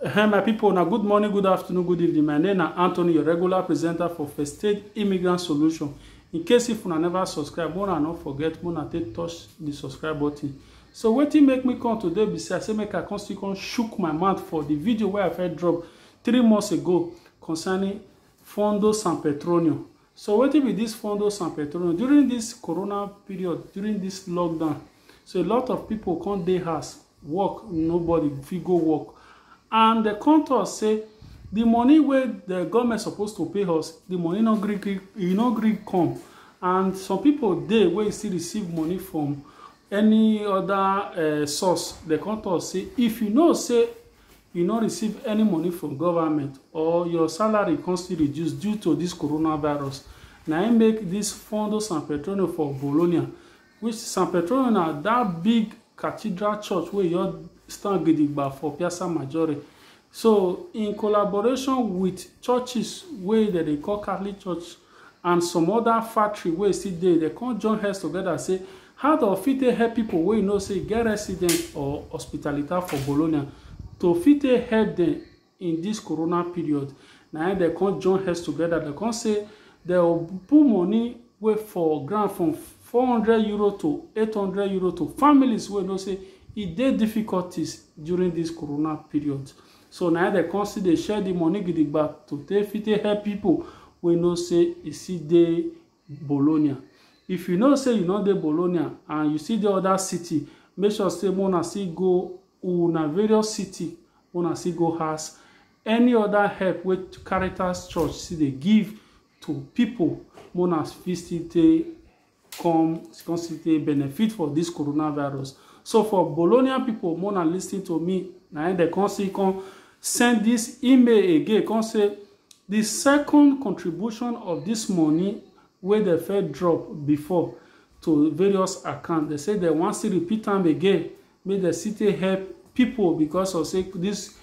Hey, my people, now good morning, good afternoon, good evening. My name is Anthony, your regular presenter for First Aid Immigrant Solution. In case if you never subscribe, wanna not forget, wanna take touch the subscribe button. So wetin make me come today be say I say make I come still come shook my mouth for the video wey I first drop three months ago concerning Fondo San Petronio. So wetin be dis Fondo San Petrono? During dis corona period, during dis lockdown, so a lot of pipo come dey house, work nobody fit go work and dem come tok say di money wey di goment suppose to pay us, di money no gree gree, e no gree come and some pipo dey wey still receive money from any oda source, dem come tok say if you know say you no receive any money from government or your salary come still reduce due to this coronavirus na im make this Fondo San Petronio for Bologna which San Petronio na that big cathedral church wey just stand gidigba for Piazza Maggiore so in collaboration with churches wey dem dey call Catholic church and some oda factory wey still dey, dem come join heads togeda say how dem fit take help pipo wey you know say get residence or hospitalita for Bologna to fit take help dem in dis corona period. Na im dem come join heads togeda, dem come say dem go put money wey for ground from four hundred euro to eight hundred euro to families wey you know say e dey difficulties during dis corona period. So na im dem come still dey share the money gidigba to take fit take help people wey know say e still dey Bologna. If you know say you no dey Bologna and you still dey other city, make sure say make una still go una various city, make una still go ask any other help wey Caritas Church still dey give to people, make una fit still take come come still dey benefit for this coronavirus so for bologna people more than listening to me na im dem come see come send this email again come say the second contribution of this money wey dem first drop before to various accounts dem say dem wan still repeat am again make dem still take help people because of say this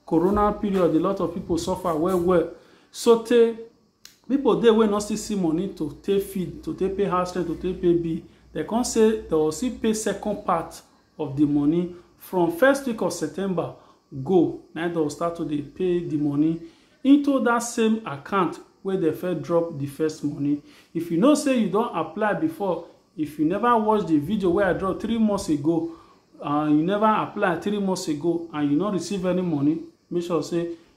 corona period a lot of people suffer well well so tey People dey wey no still see money to take feed, to take pay house rent, to take pay bill. They come say they go still pay second part of the money. From first week of September go, na im they go start to dey pay the money into dat same account wey they first drop the first money. If you know sey you don apply before, if you never watch the video wey I drop three months ago, and you never apply three months ago, and you no receive any money, make sure sey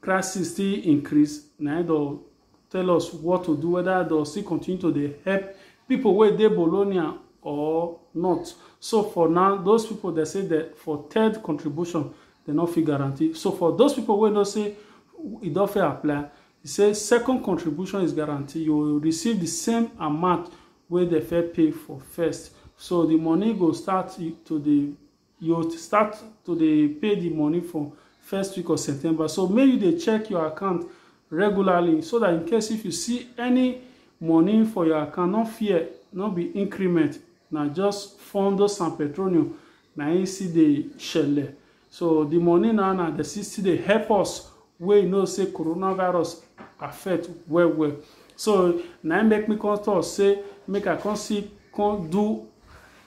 crisis still increase na im don tell us what to do whether they'll still continue to dey help people wey dey Bologna or not so for now those people they say that for third contribution they no fit guarantee so for those people wey know say e don fit apply e say second contribution is guaranteed you will receive the same amount wey they fit pay for first so the money go start to dey you start to dey pay the money for first week of september so make you dey check your account regularly so that in case if you see any money for your account no fear no be increment na just fondo san petroleum na im still dey shele so the money now na dey still dey help us wey you know say coronavirus affect well well so na im make me come talk say make i come see come do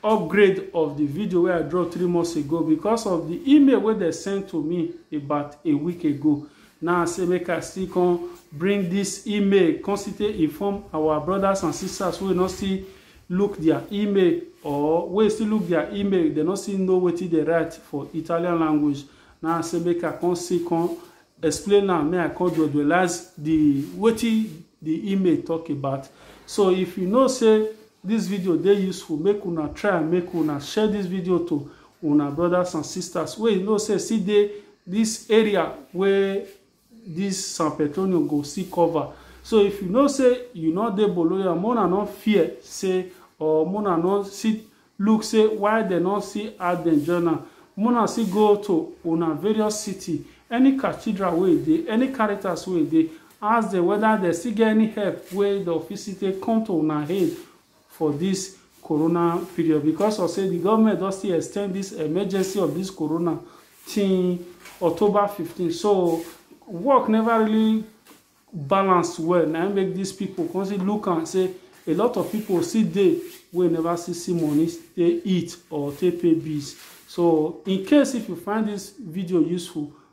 upgrade of the video wey I draw three months ago because of the email wey they sent to me about a week ago. Now I say make I still come bring this email, come still inform our brothers and sisters who will not still look their email or wey still look their email, they not still know wetin they write for Italian language. Now I say make I come see come explain am make I come dualize the wetin the email talk about so if you know say this video dey useful make una try and make una share this video to una brothers and sisters wey you know say still dey this area wey Dis San Petronio go see cover. So if you know say you no dey Bologna, make una no fear say or make una no sit look say why dem no see add dem join am. Make una see go to una various city, any cathedral wey e dey, any caritas wey e dey, ask dem whether dem still get any help wey dem fit still take come to una aid for dis corona period because of say di government don still extend dis emergency of dis corona till October 15 so work never really balance well na im make dis people come still look am say a lot of people still dey wey never still see money take eat or take pay bills so in case if you find dis video useful